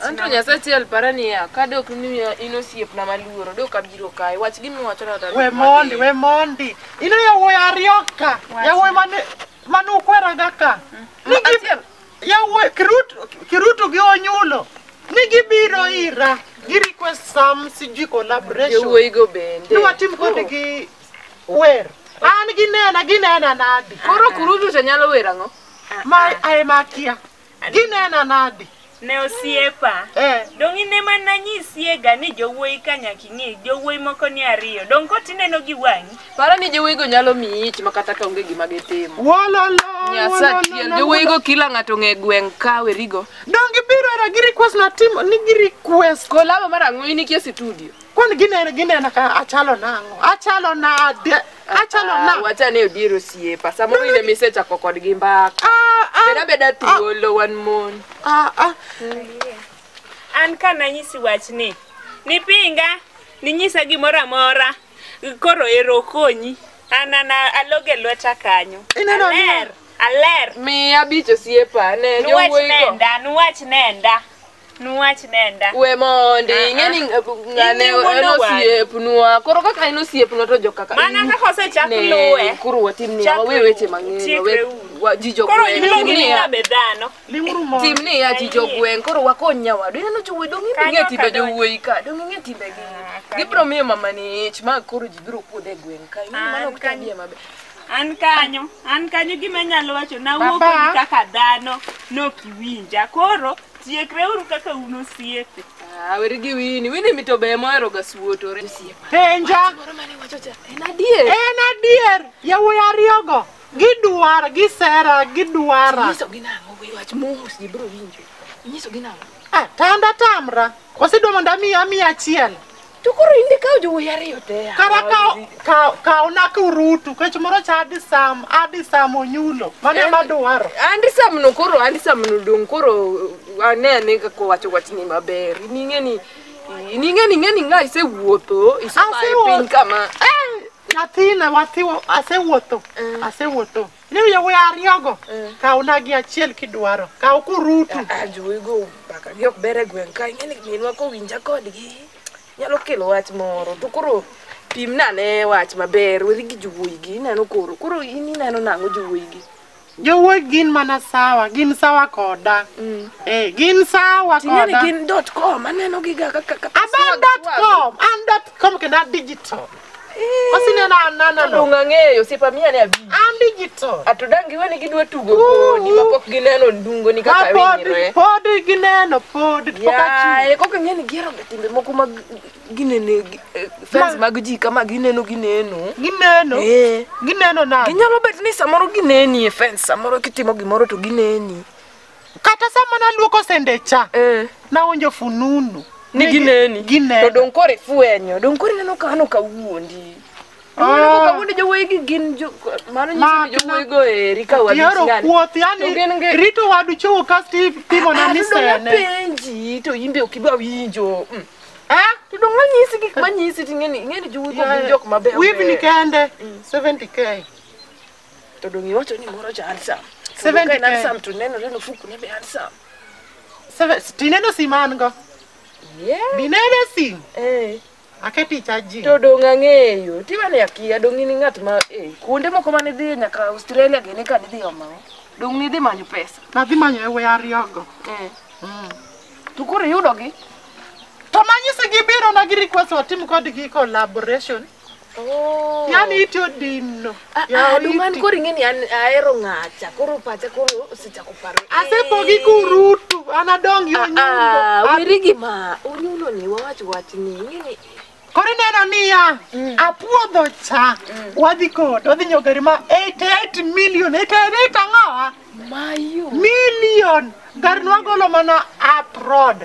Anto Nyasaye achiel para niya, ka dok ni in osiepna maluoro, dok abiro kae. Wach gima iwacho na to. We mondi, we mondi. Ino yawuoyi ariyo ka. Yawuoyi mane mane ukweraga ka. Ni gi Achiel. yawuoyi kiruto kiruto gi onyulo. Ni gibiro ira. Gi request some CG collaboration. Yowuoyi go bende. Ni watim kodgi wer. An ginena ginena nadi. Koro kurutu to nyalo wer ang'o? Ma ae makia. ginena nadi ne osiepa eh. dong' ine ma nanyisiega ni jowuoyi ka nyaka ing'e jowuoyi moko ni ariyo dong' kot ineno gi wang'i paro ni jowuoyigo nyalo miyi ich makata ka onge gima gitimo nyasachiel jowuoyigo kila ng'ato ng'e gweng' ka werigo dong' gibiro era gi request natimo ni gi request kolabo mar ang'o in ikie situdio Kwani ginena ginena ka achalo nang'o? Achalo nade? Achalo Ah, nang'o? wacha ni odier osiepa samoro in ema isechako kodgi mbaka Ah, ah, beda beda thuolo wan mon ah, ah. an ka nanyisi wachni nipinga ninyisa gimoro amora koro ero konyi an an alog e lweta kanyo Ineno ni- aler aler miya bich osiepa ne nuwach jowuoyi go nenda nuwach nenda Nuwach nenda. We mondi, Ah, ing'e ni ah. ng'ane Ing'e wuon en owadu. osiepnwa. Koro kaka en osiepnwa to jo kaka Mana in- kaka osechak Ne, luwe. Koro watim niya, Chakre wawe weche u- mang'eny. chikre wawe- u. wa- Ji jo Koro gweng'. iluongi Tim ni niya, kabe dhano. Ling'uru mondo. Tim niya ji jo Ayie. gweng' koro wakony nyawadu. Ineno jowuoyi dong' ing'e Kanyo timbe kadonjo. jowuoyi ka. Dong' ing'e timbegi. Ah, kanyo. Gibiro miyo mamani ich ma koro ji biro kuodhe e gweng' ka. Ing'e ni Ah, mano ok kanyo. tabia maber. An kanyo, an kanyo gima anyalo wacho nawuok Baba. kodi kaka dhano nok iwinja. Koro tiekreuru kaka un osiepe. Ah, weri gi wini wini mito be mohero ga suotore Penja. en adier En adier. Yawuoyi ariyogo. Gidwar, gisera, gidwara. inyisogi nang'o we wach mos ji biro winjo inyisogi nang'o Ah, tanda tamra. Osidwa mondo amiya amiya achiel. To koro in be kawo jowuoyi ariyo te. Kara kaw kaw kaw na kurutu kech moro cha adi sam adi sam onyulo. Mano ema dwaro. Andi sam no koro andi sam no dong koro ane ane kaka owacho wachni maber. Ning'e ni ning'e ni ng'e ni ng'a isewuotho isebayo Asewuotho. piny kama. Nyathina wathiwo asewuotho. Asewuotho. Ni yawuoyi ariyogo, kawna gi achiel kidwaro. Kaw kurutu. Ajowigo mbaka gi ok ber e gweng' ka ing'e ni minwa kowinja kodgi nyalo kelo wach moro to koro pim nane wach maber weri gi jowuoyi gi ineno koro koro in ineno nang'o jowuoyi gi Jowuoyi gin mana sawa, gin sawa koda. Eh, gin sawa ting'e ni koda. gin dot com aneno gi ga kaka kaka Abe an dot com, an dot com kendo an digital. Osineno ananano. Donge ang'eyo osiepa miya ne abi. An digital. Atudang giwe ni gidwa tugo kodi ma pok gineno ndungo ni kaka winyre. Pod gineno pod pok achung'. Ya, kok ang'e ni gihero ga timbe moko mag ginene eh, fans mag ji kama gineno gineno. Gineno. Eh. Gineno nade? Ginyalo bet ni samoro gineni e fans samoro kitimo gimoro to gineni. Kata sama naluoko sende cha, Eh. nawinjo fununu. Ni gineni. Gineni. To dong kore fwenyo, dong kore neno ka ano ka wuondi. Ah. Mano ka wuondi jowuoyi gi gin jo mano nyiso Ma- ni jowuoyi go eri ka wadi Yaro ng'ani. kuoth, To yani gin gi- rito wadu chowo kasto ipimo na Ah, ni to dong sene. apenji to imbe ok iba winjo. Mm. Eh? To dong anyisi gik manyisi ting'eni ing'eni jowuoyi go gin jok mabeyo. Wivni kende 70k. To dong' iwacho ni moro ja handsome. To Seven dong' ka en to ten. handsome to nenore ni ofuku ne be handsome. Seven, tineno sim an go. Yeah. Dineno sim. Eh. Aketi chaji. To dong' ang'eyo. Tiwa ni akia dong' in ng'at ma eh kuonde moko ma nidhiye nyaka Australia gene ka nidhi omawo. Dong' nidhi manyo pesa. Nadhi manyo e we ariyogo. Eh. To koro iyudogi. To manyisi gibiro na gi request watim kodgi collaboration. Oh. Ng'ani iti odinno. Ah, ah, Yaw Aduong' an iti. koro ing'e ni an ahero ng'acha, koro pacha koro osechako paro. Asepogi kurutu, an adong yo Ah, nyundo. ah, weri gima unyulo ni wawach wach ni ing'e ni Koro ineno niya, apuodho cha, wadhi kod, wadhi nyiewo gari ma 88 million, 88 ang'owa? mayo. Million! Gari nwagolo mana abroad.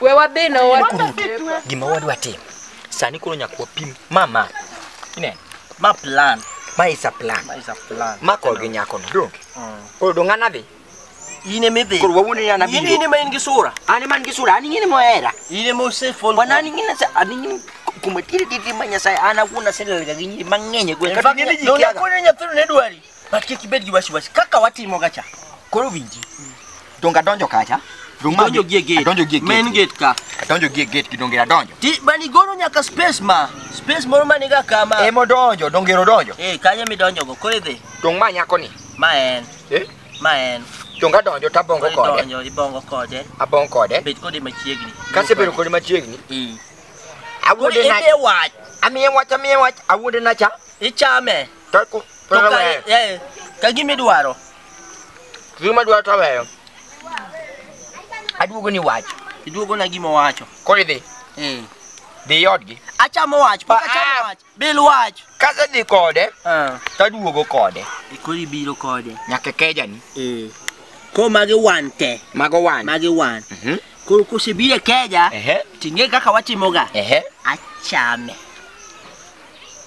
We wadhi no wa. gima wadwa timo sani koro nyaka wapim ma ma ineno ma plan ma is a plan ma is a plan ma kod gi nyakono donge koro dong an adhi in ema idhi koro wawuondi ni an in in abiro ema in gi sura an ema an gi sura an ing'eni mohera in ema osefon wana an ing'eni ase- an ing'eni kuma tiri tiri ma nyasaye an awuon aselelga gi nyiri mang'eny e gweng' kata ing'eni ji kiaga. kone nyathino ne dwari But kik ibed gi wasiwasi kaka watimo ga cha. Koro winji. Donge adonjo kacha? Donge ma- Donjo gie gate. Adonjo gie gate. Main gate ka. Adonjo gie gate gi donge adonjo. Ti bani goro nyaka space ma. Space moro mani ga kama. Ema odonjo, donge odonjo. Eh, kanye midonjo go? Koro idhi. Donge ma nyako ni. Ma en. Eh? Ma en. Donge adonjo to abongo Koro kode. idonjo, ibongo kode. Abongo kode. Bet kode machiegni. Kasebedo kode machiegni. Eh. Koro Awuonde na ebe wach. amiye wach amiye wach awuonde na cha. Ichame. To ku- to To ka- naweyo. eh, ka gima idwaro Gima dwa to aweyo. Aduogo ni wach. iduogona gima owacho Koro idhi. Eh. Dhi odgi. achamo wach pok Ah, ah. achamo wach bil wach Kasedhi kode Ah, to aduogo kode. e koro ibiro kode Nyaka kejani. Eh. koro magi wan te Mago wan. magi wan Mhm. koro kosebiro e keja Ehe. ting'e kaka watimoga Ehe. achame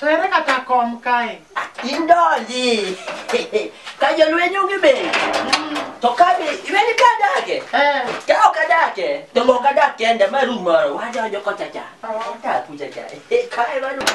To ere kata kom kae? Indonji. Ka jolweny onge be. To ka be iweni ka adake. Eh. Ka ok adake, to ok adak kenda ma rum moro wadonjo kocha cha. Odak kucha cha. Kae wadonjo.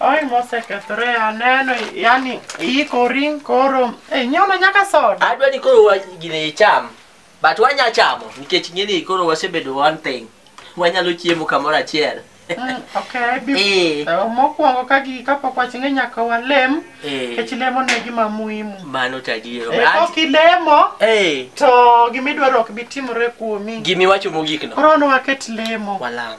Oi mosekethore aneno yani iikori koro eh, nyono nyaka soda. Adwa ni koro wa- gine icham. But wanya chamo nikech ng'eni koro wasebedo one thing. Wanyalo chiemo kamoro achiel. Mm, okay, bi- Eh. eh, mokwongo ka gi kapok waching'e nyaka walem Eh. nikech lemo ne gima muhimu. Mano tadiero. Eh, Kok ilemo Eh. to gimidwaro ok bi timore kuomi. Gimi wacho mogik no. Koro ne waket lemo. Walam.